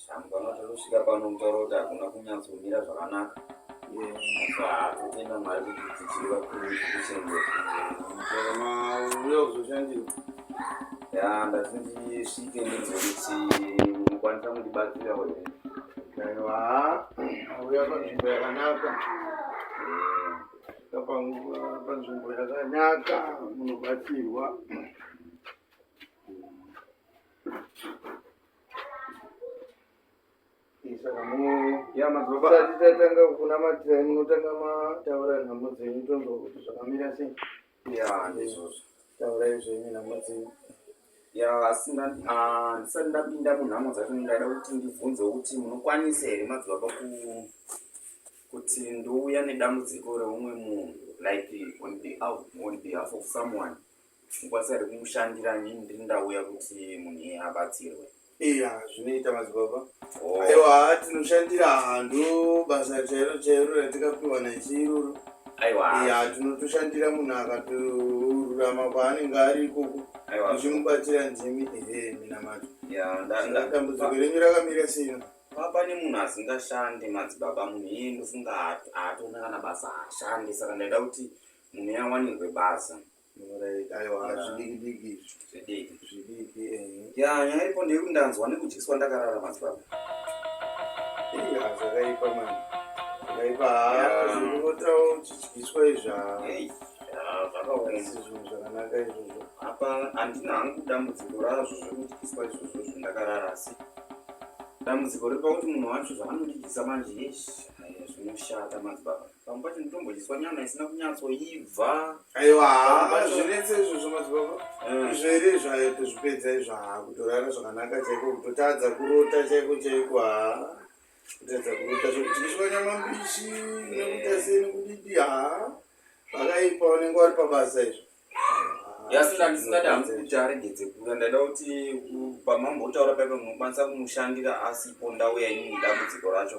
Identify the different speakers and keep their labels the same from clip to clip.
Speaker 1: Shangu vanoti anosvika pano mutauro kuti hakuna kunyatsomira zvakanaka zvaatotenda mwari kuti dzidziri vakuru kuchengetauya kuzoshandira ya ndati ndisvike ndinze kuti mukwanisa kundibatsira here aiwa auya panzvimbo yakanaka panzvimbo yakanaka munobatsirwa tisati tatanga kunamatira munotanga mataura nhamo dzenyu tonzwa kuti zvakamira sei ya ndizvozvo taurai zvenyu nhamo dzenyu ya ah, ndisati ndapinda munhamo dzacho ndaida kuti ndibvunze kuti munokwanisa here madzibaba kuti ndouya nedambudziko reumwe munhu like on behalf of someone pfungwa dzari kumushandira nini ndiri ndauya kuti munhu iye abatsirwe iya zvinoita madzibaba oh. aiwa tinoshandira hando basa chairo chairo ratikapiwa nechiruru aiwa iya tinotoshandira munhu akatorurama kwaanenge ari ikoko uchimubatsira ndimi ehe minamato dambudziko renyu rakamira sino papa nemunhu asingashande madzibaba munhu iye ndofunga haatona kana basa haashande saka ndaida kuti munhu yawanirwe basa nyaya ipo ndeyekuti ndanzwa nekudyiswa ndakarara madzibaba zvakaipa mani zvakaipa unotawo uchidyiswa izva zvakawaisizvinhu zvakanaka izvozvo apa handina hangu dambudziko razvo zvekudyiswa izvozvo zvindakarara asi dambudziko riri pakuti munhu wacho zvaanondidyisa manje zvinoshata madzibaba pamwe pacho nditombodiswa nyama isina kunyatsoibva aiwa zvinetse izvozvo madzibaba eh. zvere zvayo tozvipedza izvo haa kutorara zvakanaka chaiko kutotadza kurota chaiko chaiko haa kutadza kurota zvekuti ndiswa nyama mbishi nekuta seni kudidi haa pakaipa unenge wari pabasa izvo yasina ndisingadi hanzi kuti aregedze kuuya ndaida kuti pamambotaura paipa munokwanisa kumushandira asipo ndauya ini mudambudziko racho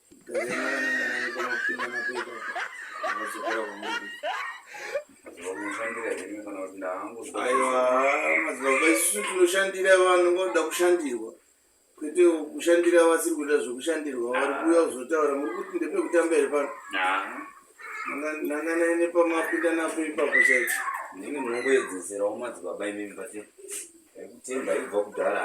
Speaker 1: tinoshandira vanhu ngoda kushandirwa kwete kushandira vasiri kuita zvekushandirwa vari kuuya kuzotaura muri kuti ndepekutamba here pano nanganaine pamapinda napo ipapo chaicho ndini munongoedzeserawo madzibaba imimi pati kutenda ibva kudhara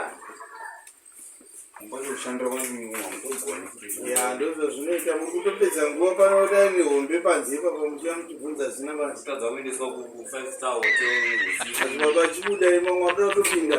Speaker 1: kushanda kwandogona ya ndozvo zvinoita muri kutopedza nguva pano dai nehombe panze ipapa muchiva muchibvunza zina vatadza kuendeswa ku5 star hotelbaba achibuda imamwe abuda kutopinda